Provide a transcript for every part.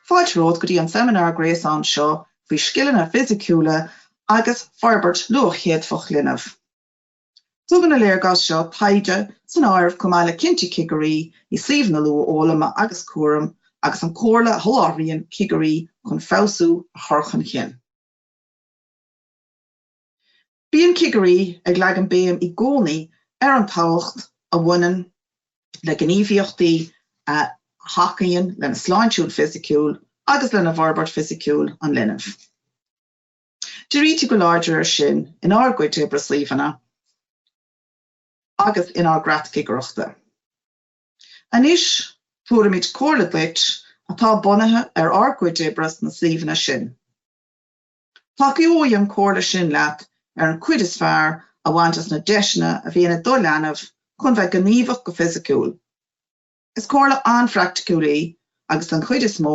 Fáilte romhaibh go dtí an seimineár gréasáin seo faoi scileanna fisiciúla agus forbairt luathchéadfach linbh. Tugann an léargas seo taighde san áireamh chomh maith le cinntí cigirí i suíomhanna luathfhoghlama agus cúraim agus an chomhairle a sholáthraíonn cigirí chun feabhsú a chur chun chinn. Bíonn cigirí ag leagan béim i gcónaí ar an tábhacht a bhaineann le gníomhaíochtaí a thacaíonn lena sláinte fhisiciúil agus lena bhforbairt fisiciúil an linbh. Dírítear go láidir ar sin in ár gcuid oibre i suíomhanna agus in ár gcreat cigireachta. Anois tabharfaimid comhairle duit atá bunaithe ar ár gcuid oibre sna suíomhanna sin. Tacóidh an comhairle sin leat ar an cuid is fearr a bhaint as na deiseanna a bhíonn ag do leanbh chun bheith gníomhach go fisiciúil. Is comhairle an-phraiticiúil í agus den chuid is mó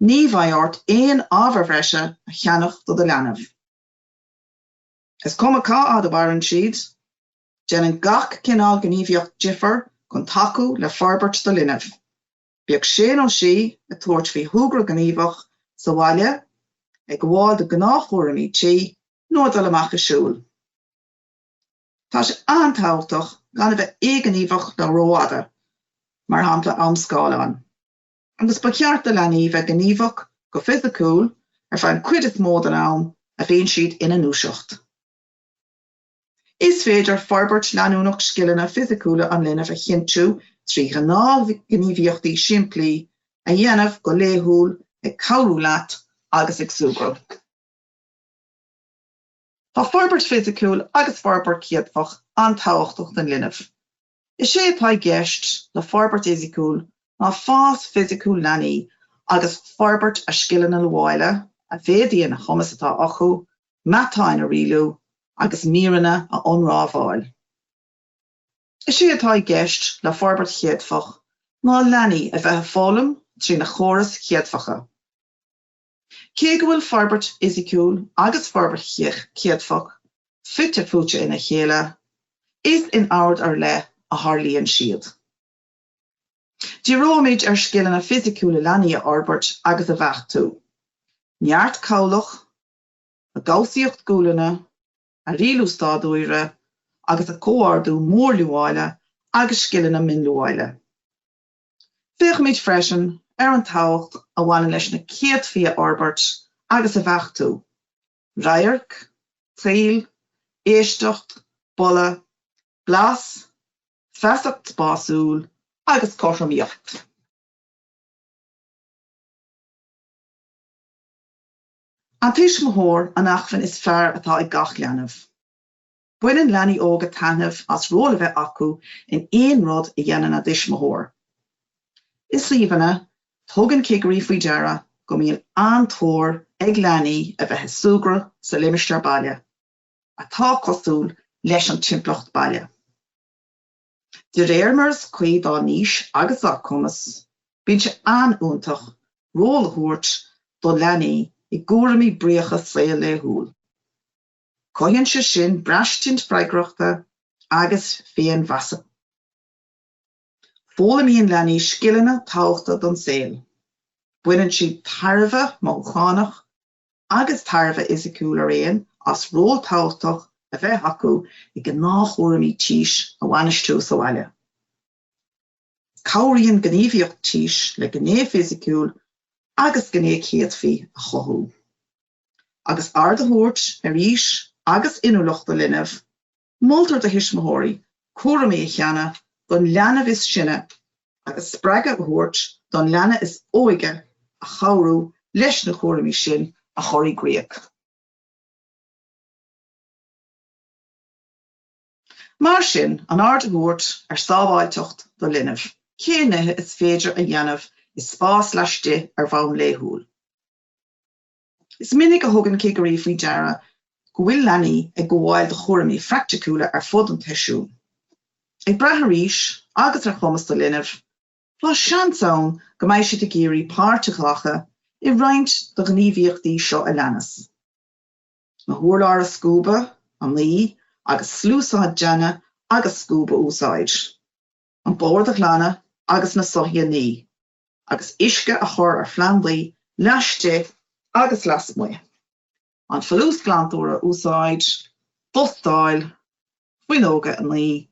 ní bheidh ort aon ábhair bhreise a cheannach do do leanbh. Is cuma cá fhad a mhaireann siad, déanann gach cineál gníomhaíocht difear chun tacú le forbairt do linbh, bíodh sé nó sí ag tabhairt faoi shúgradh gníomhach sa bhaile, ag gabháil do ghnáthchúraimí tí nó ag dul amach ag siúl. Tá sé an-tábhachtach gan a bheith éighníomhach le rófhada, mar shampla am scáileáin, agus ba cheart do leanaí bheith gníomhach go fisiciúil ar feadh an chuid is mó den am a bhíonn siad ina ndúiseacht. Is féidir forbairt leanúnach scileanna fisiciúla an linbh a chinntiú trí ghnáthghníomhaíochtaí simplí a dhéanamh go laethúil, ag cabhrú leat agus ag súgradh. Tá forbairt fisiciúil agus forbairt chéadfach an-tábhachtach don leanbh. Is é atá i gceist le forbairt fhisiciúil ná fás fisiciúil leanaí agus forbairt a scileanna luaile, a mhéadaíonn an cumas atá acu matáin a rialú agus míreanna a ionramháil. Is é atá i gceist le forbairt chéadfach ná leanaí a bheith ag foghlaim trína gcórais chéadfacha. Cé go bhfuil forbairt fhisiciúil agus forbairt chéadfach fite fuaite ina chéile, is in ord ar leith a tharlaíonn siad. Díreoimid ar scileanna fisiciúla leanaí a fhorbairt agus a bheachtú, neart cabhlach, a gcobhsaíocht gualainne, a rialú staidiúire agus a comhordú mórluaile agus scileanna mínluaile. Féachfaimid freisin ar an tábhacht a bhaineann leis na céadfaí a fhorbairt agus a bheachtú, radharc, tadhall, éisteacht, boladh, blas, feasacht spásúil agus cothromaíocht. An tuismitheoir an acmhainn is fearr atá ag gach leanbh. Baineann leanaí óga taitneamh as ról a bheith acu in aon rud a dhéanann a dtuismitheoir. I suíomhanna, tugann cigirí faoi deara go mbíonn an-tóir ag leanaí a bheith ag súgradh sa limistéar baile, atá cosúil leis an timpeallacht baile. De réir mar is cuí dá n-aois agus dá gcumas, bíonn sé an-fhiúntach ról a thabhairt do leanaí i gcúraimí bríocha saol laethúil. Cothaíonn sé sin braistint freagrachta agus féinmheasa. Foghlaimíonn leanaí scileanna tábhachta don saol. Baineann siad tairbhe mothúchánach agus tairbhe fhisiciúil araon as ról tábhachtach a bheith acu i ngnáthchúraimí tís a bhainistiú sa bhaile. Cabhraíonn gníomhaíocht tís le gné fisiciúil agus gné céadfaí a chothú, agus aird a thabhairt ar aois agus inniúlacht do linbh, moltar do thuismitheoirí cúraimí a shannadh don leanbh is sine agus spreagadh a thabhairt don leanbh is óige a chabhrú leis na cúraimí sin a chur i gcrích. Mar sin, an aird a thabhairt ar sábháilteacht do linbh, cé nithe is féidir a dhéanamh i spás laistigh ar bhonn laethúil. Is minic a thugann cigirí faoi deara go bhfuil leanaí ag gabháil do chúraimí praiticiúla ar fud an tseisiúin, ag brath ar aois agus ar chumas do linbh, tá seans ann go mbeidh siad ag iarraidh páirt a ghlacadh i roinnt de ghníomhaíochtaí seo a leanas. na hurláir a scuabadh, a ní agus sluasaid deannaigh agus scuab a úsáid, an bord a ghlanadh agus na soithí a ní, agus uisce a chur ar phlandaí laistigh agus lasmuigh, an folúsghlantóir a úsáid, dustáil, fuinneoga a ní,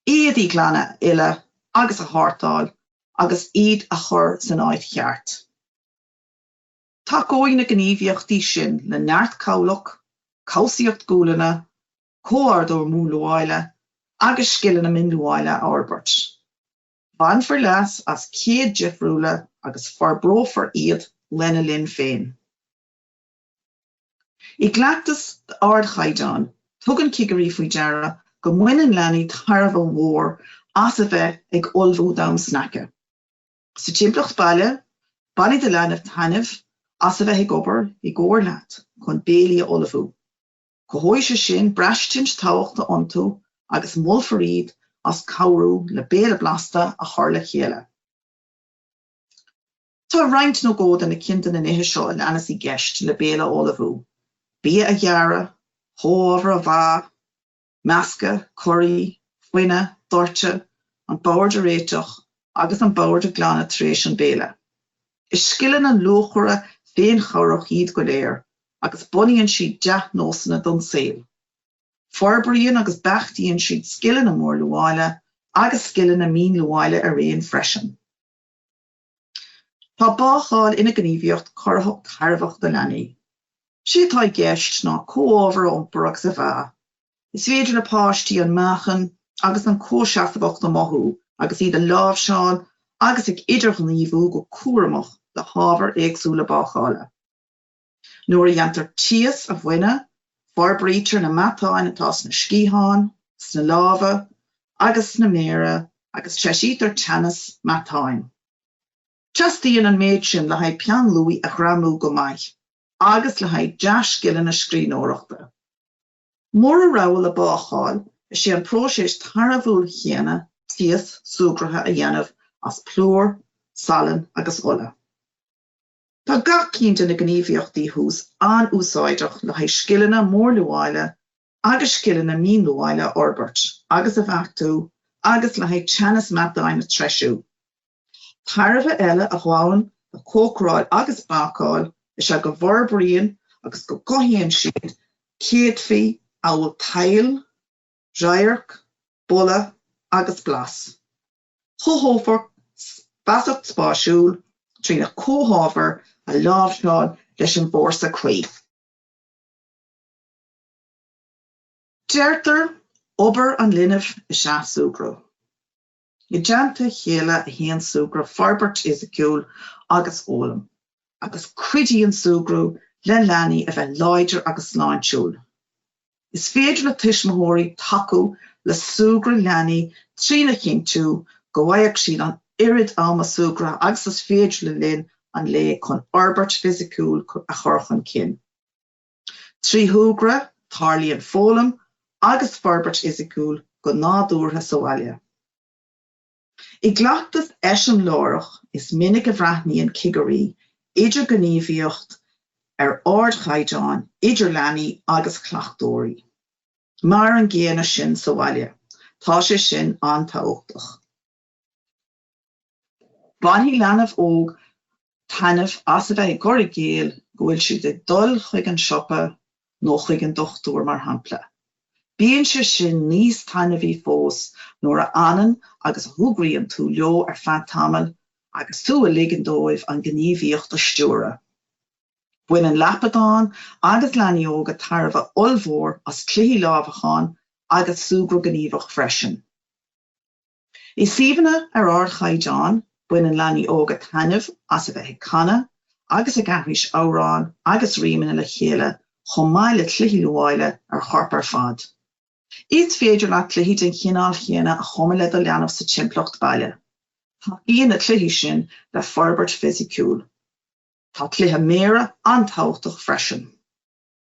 éadaí glana a fhilleadh agus a shortáil agus iad a chur san áit cheart. Tacóidh na gníomhaíochtaí sin le neart cabhlach, cobhsaíocht gualainne, comhordú mórluáile agus scileanna mínluáile a fhorbairt. Bainfear leas as céadfaí difriúla agus forbrófar iad lena linn féin. I gcleachtas d'ardchaighdeán, tugann cigirí faoi deara go mbaineann leanaí tairbhe mhór as a bheith ag ullmhú d'am sneaice. Sa timpeallacht baile, bainfidh do leanbh taitneamh as a bheith ag obair i gcomhar leat chun béilí a ullmhú. Cothóidh sé sin braistint tábhachta iontu agus molfar iad as cabhrú le béile blasta a chur le chéile. Tá roinnt nó dhó de na cinn de na nithe seo a leanas i gceist le béile a ullmhú, bia a ghearradh, chomhábhair a mheá, meascadh, corraí, fuineadh, doirteadh, an bord a réiteach agus an bord a glanadh tar éis an béile. Is scileanna luachmhara féinchabhrach iad go léir agus bunaíonn siad dea-nósanna don saol. Forbraíonn agus beachtaíonn siad scileanna mórluáile agus scileanna mínluáile araon freisin. Tá bácáil ina gníomhaíocht corraitheach tairbheach do leanaí. Is é atá i gceist ná comhábhar a iompar agus a mheá. Is féidir le páistí an meáchan agus an comhsheasmhacht a mothú agus iad ag láimhseáil agus ag idirghníomhú go cúramach le hábhair éagsúla bácála. Nuair a dhéantar taos a fhuineadh, forbraítear na matáin atá sna sciatháin, sna lámha agus sna méara agus treisítear teannas matáin. Teastaíonn an méid sin le haghaidh peann luaidhe a ghreamú go maith agus le haghaidh dea-scileanna scríbhneoireachta. Mura rogha leat bácáil, is é an próiseas tairbhiúil chéanna taos súgartha a dhéanamh as plúr, salann agus ola. Tá gach cinn de na gníomhaíochtaí thuas an-úsáideach le haghaidh scileanna mórluáile agus scileanna mínluáile a fhorbairt agus a bheachtú agus le haghaidh teannas matáin a threisiú. Tairbhe eile a ghabhann le cócaráil agus bácáil is ea go bhforbraíonn agus go gcothaíonn siad céadfaí amhail tadhall, radharc, boladh agus blas. Cothófar feasacht spáisiúil trí na comhábhair a láimhseáil leis an bhfórsa cuí. Deirtear obair an linbh is ea súgradh. I dteannta a chéile a théann súgradh, forbairt fhisiciúil agus fhoghlaim, agus cuidíonn súgradh le leanaí a bheith láidir agus sláintiúil. Is féidir le tuismitheoirí tacú le súgradh leanaí trína chinntiú go bhfaigheadh siad an oiread ama súgartha agus is féidir le linn an lae chun fhorbairt fisiciúil a chur chun cinn. Trí shúgradh, tarlaíonn foghlaim agus forbairt fhisiciúil go nádúrtha sa bhaile. I gcleachtas eiseamláireach, is minic a bhreathnaíonn cigirí idirghníomhaíocht ar ardchaighdeán idir leanaí agus cleachtóirí. Mar an gcéanna sin sa bhaile. Tá sé sin an-tábhachtach. Bainfidh leanbh óg taitneamh as a bheith ag cur i gcéill go bhfuil siad ag dul chuig an siopa nó chuig an dochtúir, mar shampla. Bíonn sé sin níos taitneamhaí fós nuair a fhanann agus a shúgraíonn tú leo ar feadh tamaill agus tú ag ligean dóibh an ghníomhaíocht a stiúradh. Baineann lapadáin agus leanaí óga tairbhe ollmhór as cluichí lámhacháin agus súgradh gníomhach freisin. I suíomhanna ar ardchaighdeán, baineann leanaí óga taitneamh as a bheith ag canadh agus ag aithris amhrán agus rímeanna le chéile chomh maith le cluichí luaile ar chorp ar fad. Is féidir leat cluichí den chineál chéanna a chumadh le do leanbh sa timpeallacht baile. Tacaíonn na cluichí sin le forbairt fisiciúil. Tá cluiche méire an-tábhachtach freisin.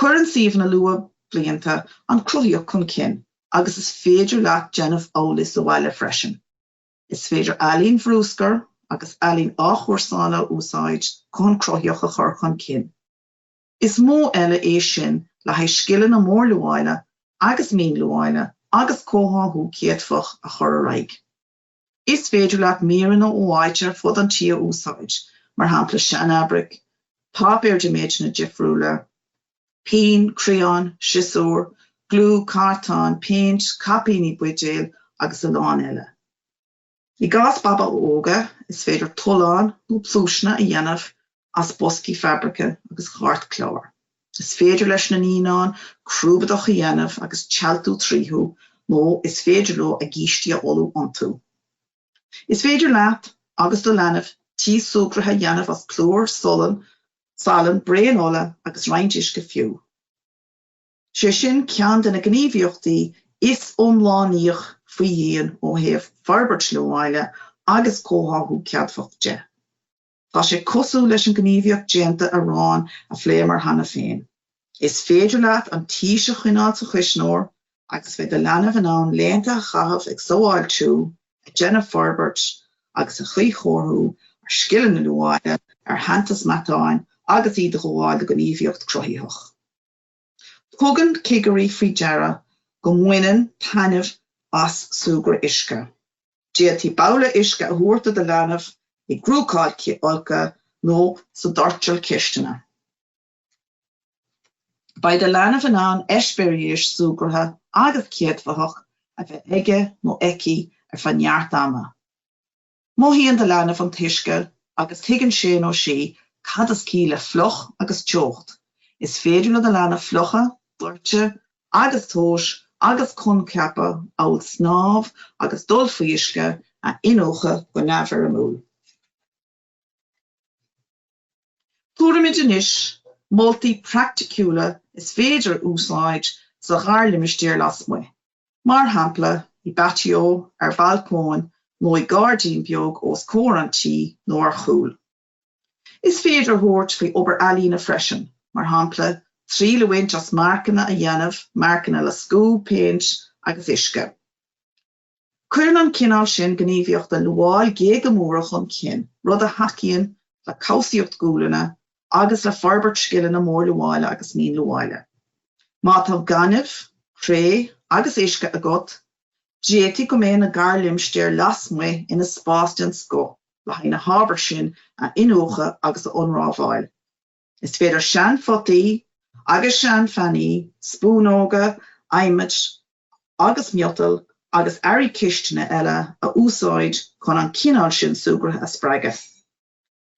Cuireann suíomhanna luathbhlianta an cruthaíocht chun cinn agus is féidir leat déanamh amhlaidh sa bhaile freisin. Is féidir ealaín bhrúscair agus ealaín athchúrsála a úsáid chun cruthaíocht a chur chun cinn. Is modh eile é sin le haghaidh scileanna mórluaile agus mínluaile agus comhtháthú céadfach a chur ar aghaidh. Is féidir leat míreanna ó áit ar fud an tí a úsáid, mar shampla seanfhabraic, páipéar de méideanna difriúla, pinn, criáin, siosúr, gliú, cartáin, péint, caipíní buidéil agus a lán eile. I gcás babaithe óga, is féidir tolláin nó pluaiseanna a dhéanamh as boscaí fabraice agus chairtchlár. Is féidir leis na naíonáin crúbadach a dhéanamh agus téaltú tríothu nó is féidir leo a gcistí a fholú iontu. Is féidir leat agus do leanbh taos súgartha a dhéanamh as plúr, salann, salann, braon ola agus roinnt uisce fiú. Sé sin ceann de na gníomhaíochtaí is iomlánaíoch faoi dhíon ó thaobh forbairt luaile agus comhtháthú céadfach de. Tá sé cosúil leis an gníomhaíocht déanta aráin a phléamar cheana féin. Is féidir leat an taos a choinneáil sa chuisneoir agus beidh do leanbh in ann laethanta a chaitheamh ag samhaltú, ag déanamh forbairt agus a chuíchóiriú ar scileanna luaile, ar theannas matáin agus iad ag gabháil do gníomhaíocht cruthaitheach. Tugann cigirí faoi deara go mbaineann taitneamh as súgradh uisce. D'fhéadfaí babhla uisce a thabhairt do do leanbh i gcró folctha nó sa doirteal cistine. Beidh do leanbh in ann eispéiris súgartha agus céadfathach a bheith aige nó aici ar feadh neart ama. Mothaíonn do leanbh an t-uisce agus tuigeann sé nó sí cad is ciall le fliuch agus teocht. Is féidir le do leanbh fliuchadh, doirteadh agus tomhas agus coincheapa amhail snámh agus dul faoi uisce a iniúchadh go neamhfhoirmiúil. Tabharfaimid anois moltaí praiticiúla is féidir a úsáid sa gharlimistéar lasmuigh. Mar shampla, i bpaitió, ar bhalcóin nó i gairdín beag os comhair an tí nó ar chúl. Is féidir tabhairt faoi obair ealaíne freisin, mar shampla, triail a bhaint as marcanna a dhéanamh, marcanna le scuab, péint agus uisce. Cuireann an cineál sin gníomhaíochta luail géaga móra chun cinn, rud a thacaíonn le cobhsaíocht gualainne agus le forbairt scileanna mórluaile agus mínluaile. Má tá gaineamh, cré agus uisce agat, d'fhéadfadh go mbeidh na garlimistéir lasmuigh ina spás den scoth le haghaidh na hábhair sin a iniúchadh agus a ionramháil. Is féidir seanphotaí agus seanphannaí, spúnóga adhmaid agus miotail agus earraí cistine eile a úsáid chun an cineál sin súgartha a spreagadh.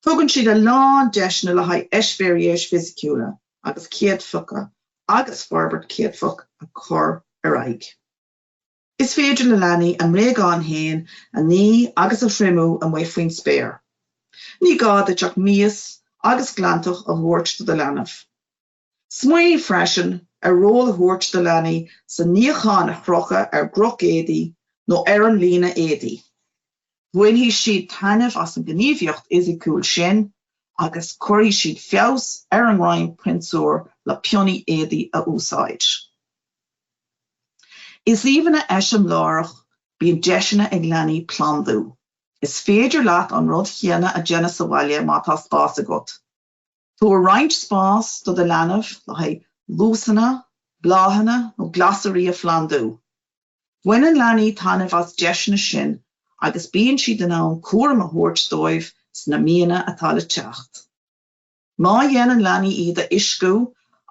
Tugann siad a lán deiseanna le haghaidh eispéiris fisiciúla agus céadfacha agus forbairt céadfach a chur ar aghaidh. Is féidir le leanaí a mbréagáin fhéin a ní agus a thriomú amuigh faoin spéir. Ní gá duit ach mias agus glantach a thabhairt do do leanbh. Smaoinigh freisin ar ról a thabhairt do leanaí sa níochán a chrochadh ar gcroch éadaí nó ar an líne éadaí. Bainfidh siad taitneamh as an gníomhaíocht fhisiciúil sin agus cuirfidh siad feabhas ar a ngreim pionsúir le pionnaí éadaí a úsáid. I suíomhanna eiseamláireacha bíonn deiseanna ag leanaí plandú. Is féidir leat an rud chéanna a déanamh sa bhaile má tá spás agat. Tabhair roinnt spás do do leanbh le haghaidh lusanna, bláthanna nó glasairí a phlandú. Baineann leanaí taitneamh as deiseanna sin agus bíonn siad in ann cúram a thabhairt dóibh sna míonna atá le teacht. Má dhéanann leanaí iad a uisciú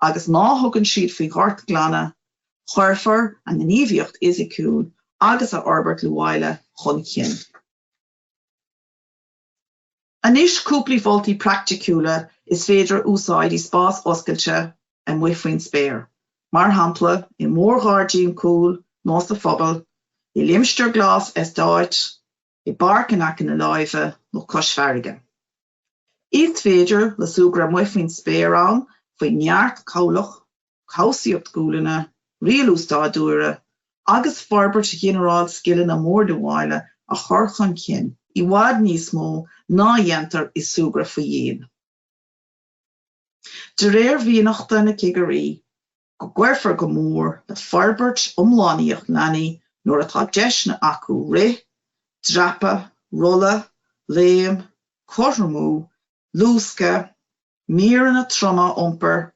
agus má thugann siad faoi ghortghlanadh, cuirfear a ngníomhaíocht fhisiciúil agus a fhorbairt luaile chun cinn. Anois cúplaí mholtaí praiticiúla is féidir a úsáid i spás oscailte amuigh faoin spéir, mar shampla i mórghairdín cúil nó sa phobal, i limistéar glas eastáit, i bpáirc in aice na láimhe nó cois farraige. Is féidir le súgradh amuigh faoin spéir ann féin neart cabhlach cobhsaíocht gualainne, rialú stáidiúire agus forbairt ghinearáil scileanna mórluaile a chur chun cinn i bhfad níos mó ná a dhéantar i súgradh faoi dhíon. De réir mhianachta na gcigirí go gcuirfear go mór le forbairt iomlánaíoch leanaí nuair atá deiseanna acu rith, dreapadh, rolladh, léim, cothromú, luascadh, Míreanna troma a iompar,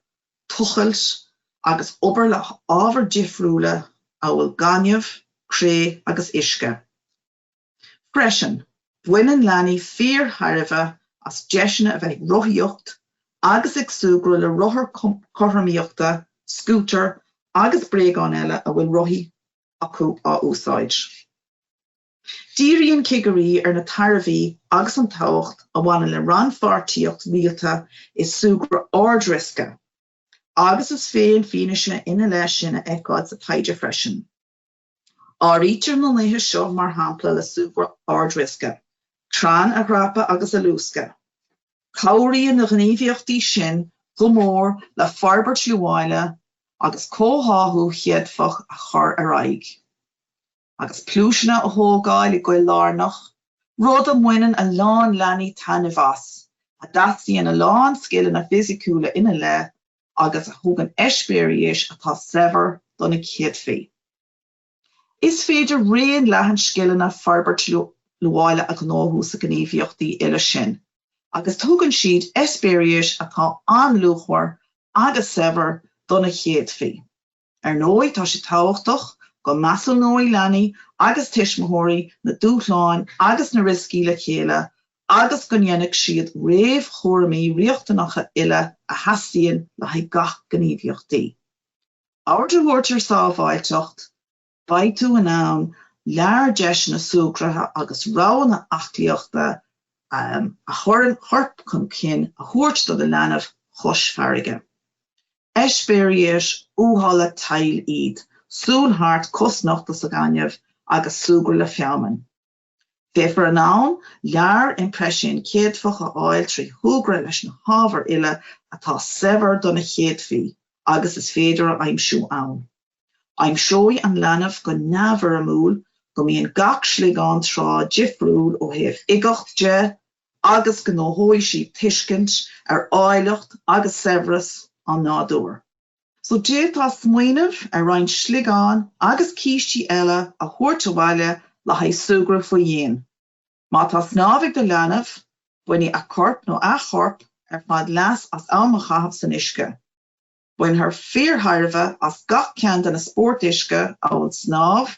tochailt agus obair le hábhair difriúla amhail gaineamh, cré agus uisce. Freisin, baineann leanaí fíorthairbhe as deiseanna a bheith ag rothaíocht agus ag súgradh le rothair cothromaíochta, scútair agus bréagáin eile a bhfuil rothaí acu á úsáid. Díríonn cigirí ar na tairbhí agus an tábhacht a bhaineann le rannpháirtíocht rialta i súgradh ardriosca, agus is féidir fianaise ina leith sin a fheiceáil sa taighde freisin. Áirítear na nithe seo mar shampla le súgradh ardriosca, crainn a dhreapadh agus a luascadh. Cabhraíonn na gníomhaíochtaí sin go mór le forbairt luaile agus comhtháthú chéadfach a chur ar aghaidh. agus pluaiseanna a thógáil i gcoill lárnach, rud a mbaineann a lán leanaí taitneamh as, a dteastaíonn a lán scileanna fisiciúla ina leith agus a thugann eispéiris atá saibhir do na céadfaí. Is féidir raon leathan scileanna forbairt luaile a ghnóthú sna gníomhaíochtaí uile sin agus tugann siad eispéiris atá an-luachmhar agus saibhir do na céadfaí. Ar ndóigh tá sé tábhachtach go measúnóidh leanaí agus tuismitheoirí na dúshláin agus na rioscaí le chéile agus go ndéanfaidh siad réamhchúraimí riachtanacha uile a theastaíonn le haghaidh gach gníomhaíochtaí. Aird a thabhairt ar sábháilteacht, Beidh tú in ann lear deiseanna súgartha agus roghanna aclaíochta a chuireann corp chun cinn a thabhairt do do leanbh chois farraige. Eispéiris uathúla tadhaill iad, siúl thart cosnochta sa ghaineamh agus súgradh le feamainn. Beifear in ann lear impreisiún céadfach a fháil trí shúgradh leis na hábhair uile atá saibhir do na céadfaí agus is féidir a aimsiú ann. Aimseoidh an leanbh go neamhfhoirmiúil go mbíonn gach sliogán trá difriúil ó thaobh uigeacht de agus gnóthóidh sí tuiscint ar áilleacht agus saibhreas an nádúir. So d'fhéadfá smaoineamh ar roinnt sliogán agus cistí eile a thabhairt abhaile le haghaidh súgradh faoi dhíon. Má tá snámh ag do leanbh, bainfidh a corp nó a chorp ar fad leas as am a chaitheamh san uisce. Bainfear fíorthairbhe as gach ceann de na spóirt uisce amhail snámh,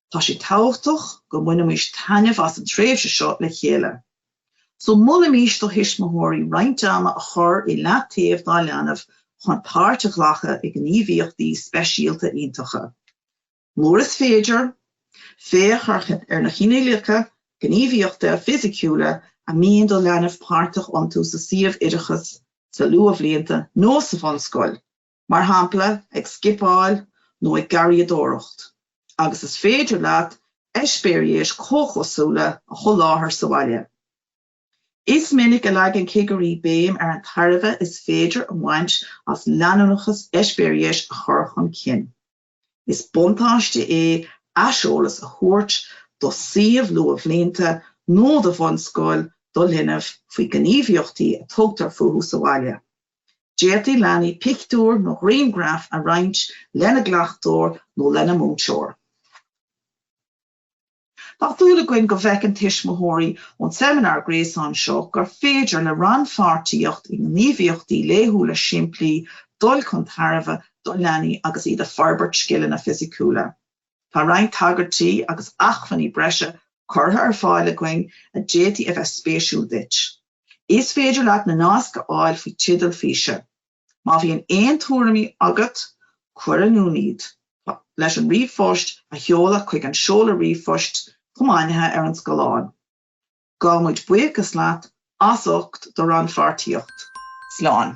Tá sé tábhachtach go mbainfimís taitneamh as an tréimhse seo le chéile. So molaimís do thuismitheoirí roinnt ama a chur i leataobh dá leanbh chun páirt a ghlacadh i gníomhaíochtaí speisialta iontacha. Murar féidir, féachaint ar na cineálacha gníomhaíochta fisiciúla a mbíonn do leanbh páirteach iontu sa suíomh oideachais sa luathbhlianta nó sa bhunscoil. mar shampla ag scipeáil nó ag garraíodóireacht, agus is féidir leat eispéiris comhchosúla a sholáthar sa bhaile. Is minic a leagann cigirí béim ar an tairbhe is féidir a bhaint as leanúnachas eispéiris a chur chun cinn. Is buntáiste é aiseolas a thabhairt do suíomh luathbhlianta nó do bhunscoil do linbh faoi ghníomhaíochtaí a tugtar fúthu sa bhaile. D'fhéadfadh leanaí pictiúir nó grianghraif a roinnt lena gcleachtóir nó lena múinteoir. Tá súil againn go bhfeiceann tuismitheoirí ón seimineár gréasáin seo gur féidir le rannpháirtíocht i ngníomhaíochtaí laethúla simplí dul chun tairbhe do leanaí agus iad ag forbairt scileanna fisiciúla. Tá roinnt tagairtí agus acmhainní breise curtha ar fáil againn a d'fhéadfadh a bheith spéisiúil duit. Is féidir leat na naisc a fháil faoi teideal físe. Má bhíonn aon tuairimí agat, cuir in iúl dúinn iad le ríomhphost a sheoladh chuig an seoladh ríomhphoist comhainmnithe ar an scáileán. Gabhaimid buíochas leat as ucht do rannpháirtíocht. Slán!